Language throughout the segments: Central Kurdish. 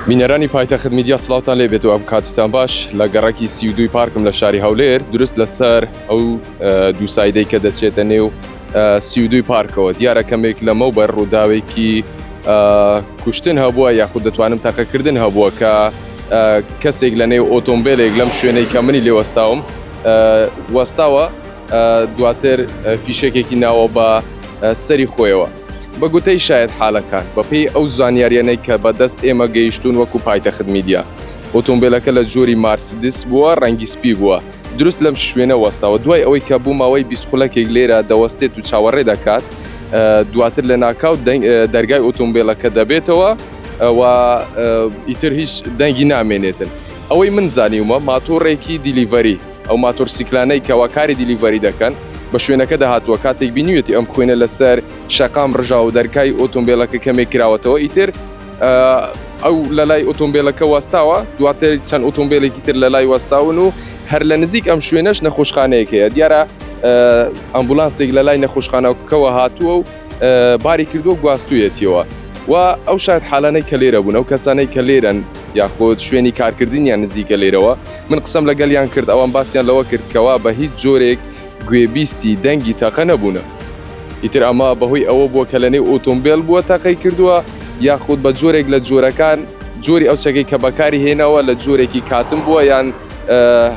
بینەرانی پایتەخت میدیا سلاوتان لێ بێت و ئەم کاتتان باش لە گەڕەکی سی و دووی پارکم لە شاری هەولێر دروست لەسەر ئەو دوو سایدەی کە دەچێتە نێو سی و دووی پارکەوە دیارە کەمێک لەمە بەر ڕووداوێکی کوشتن هەبووە یاخود دەتوانم تەقەکردن هەبووە کە کەسێک لە نێو ئۆتۆمبیلێک لەم شوێنەی کە منی لێ وەستاوم وەستاوە دواتر فیشەکێکی ناوە بە سەری خۆیەوە بە گوتەی شایەتحالەکان، بەپێی ئەو زانیارییانەی کە بە دەست ئێمە گەیشتوون وەکو پایتەخت میدیا، ئۆتۆمبێلەکە لە جۆری مارسدس بووە، ڕەنگی سپی بووە، دروست لەم شوێنە وەستاوە، دوای ئەوەی کە بۆ ماوەی بیست خولەکێک لێرە دەوەستێت و چاوەڕێ دەکات، دواتر لە ناکاو دەرگای ئۆتۆمبێلەکە دەبێتەوە و ئیتر هیچ دەنگی نامێنێتن. ئەوەی من زانیومە ماتۆڕێکی دیلیڤەری. ئەو ماتۆرسیکلانەی کەوا کاری دیلیڤەری دەکەن بە شوێنەکەدا هاتووە کاتێک بینیوێتی ئەم خوێنە لەسەر شەقام ڕژا و دەرکای ئۆتۆمبیلەکە کەمێک کراوەتەوە ئیتر ئەو لە لای ئۆتۆمبیلەکە وەستاوە دواتر چەند ئۆتۆمبیلێکی تر لە لای وەستاون و هەر لە نزیک ئەم شوێنەش نەخۆشخانەیەک هەیە دیارە ئەمبولانسێک لە لای نەخۆشخانەکەەوە هاتووە و باری کردووە و گواستوویەتیەوە و ئەو شاید حالانەی کە لێرە بوون ئەو کەسانەی کە لێرەن یاخود شوێنی کارکردنیان نزیکە لێرەوە من قسەم لەگەلیان کرد ئەوان باسییان لەوە کرد کەوا بە هیچ جۆرێک گوێبیستی دەنگی تاقە نەبوونە ئیتر ئەمە بەهۆی ئەوە بووە کە لە نێو ئۆتۆمبیل بووە تاقی کردووە یاخود بە جۆرێک لە جۆرەکان جۆری ئەو چەکەی کە بەکاری هێناوە لە جۆرێکی کاتم بووە یان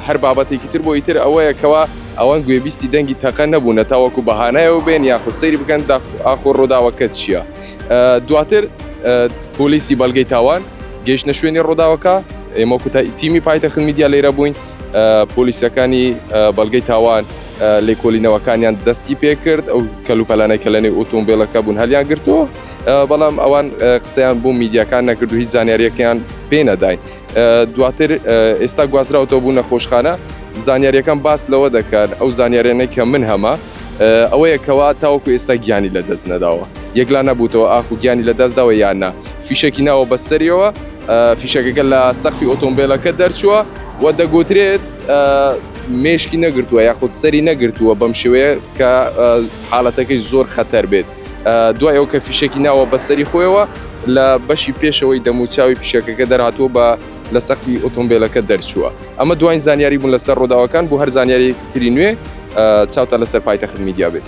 هەر بابەتێکی تر بۆ ئیتر ئەوەیە کەەوە ئەوان گوێبیستی دەنگی تەقە نەبوونە تاوەکو بەهانایەوە بێن یاخود سەیری بکەن ئاخۆ ڕووداوەکە چییە دواتر پۆلیسی بەڵگەی تاوان گەیشتە شوێنی ڕووداوەکە ئێمە کوتا تیمی پایتەخت میدیا لێرە بووین پۆلیسەکانی بەڵگەی تاوان لێکۆلینەوەکانیان دەستی پێکرد ئەو کەلوپەلانە کە لەنێ ئۆتۆمبیلەکە بوون هەلیان گرتووە بەڵام ئەوان قسەیان بۆ میدیاکان نەکرد و هیچ زانیاریەکەیان پێ نەداین دواتر ئێستا گوازراوەوە بوو نەخۆشخانە زانیاریەکان باس لەوە دەکات ئەو زانیارێنەی کە من هەمە ئەوەیە کەوا تاوەکو ئێستا گیانی لە دەست نەداوە یەکلا نەبووتەوە ئاخو گیانی لە دەستداوە یاننا فیشەکی ناوە بەسەریەوە فیشەکەکە لە سەختی ئۆتۆمبیلەکە دەرچووە و دەگوترێت مێشکی نەگرتووە یاخود سەری نەگرتووە بەم شێوەیە کە حاڵەتەکەی زۆر خەتەر بێت دوای ئەو کە فیشەکی ناوە بەسەری خۆیەوە لە بەشی پێشەوەی دەموچاوی فیشەکەکە دەرهاتووە بە لە سەقفی ئۆتۆمبیلەکە دەرچووە ئەمە دوای زانیاری بوون لەسەر ڕووداوەکان بۆ هەر زانیارێکی تری نوێ چاوتە لەسەر پایتە خمیدیا بێت.